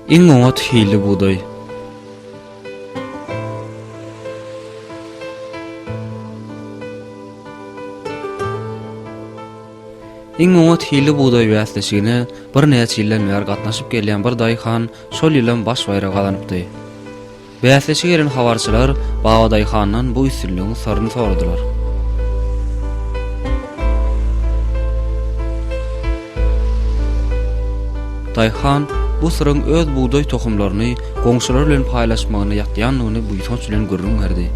Iň oňat hilli bugdaý. Iň oňat hilli bugdaý bäsleşigine birnäçe ýyldan bäri gatnaşyp gelýän bir daýhan şol ýylam baş baýragy gazanypdy. Bäsleşige gelen habarçylar Babadaýhandan bu üstünligiň syryny soradylar. Daýhan bu syryň öz bugdaý tohumlaryny goňşulary bilen paýlaşmagyna ýatýandygyny buýsanç bilen gürrüň berdi.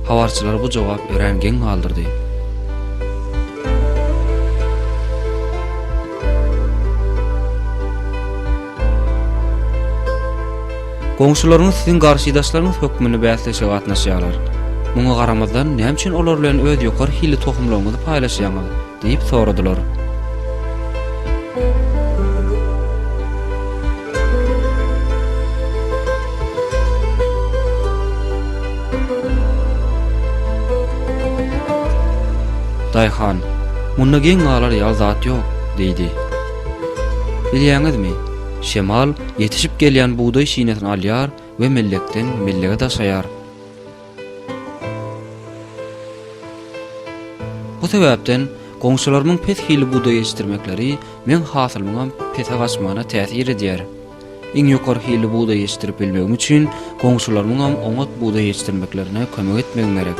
Habarçylary bu jogap örän geň galdyrdy. Goňşularyňyz siziň garşydaşlaryňyz hökmünde bäsleşige gatnaşýarlar. Muňa garamazdan, näme üçin olar bilen öz ýokary hilli tohumlaryňyzy paýlaşýaňyz? diýip soradylar. Daýhan, Munda geň galar ýaly zat ýok, diýdi. Bilýäňizmi, şemal ýetişip gelýän bugdaý şinesini alýar we mellekden mellege daşaýar. Bu sebäpden goňşularymyň pes hili bugdaý ýetişdirmekleri meň hasylymyňam pese gaçmagyna täsir edýär. Iň ýokary hilli bugdaý ýetişdirip bilmegim üçin, goňşularymyňam oňat bugdaý ýetişdirmeklerine kömek etmegim gerek.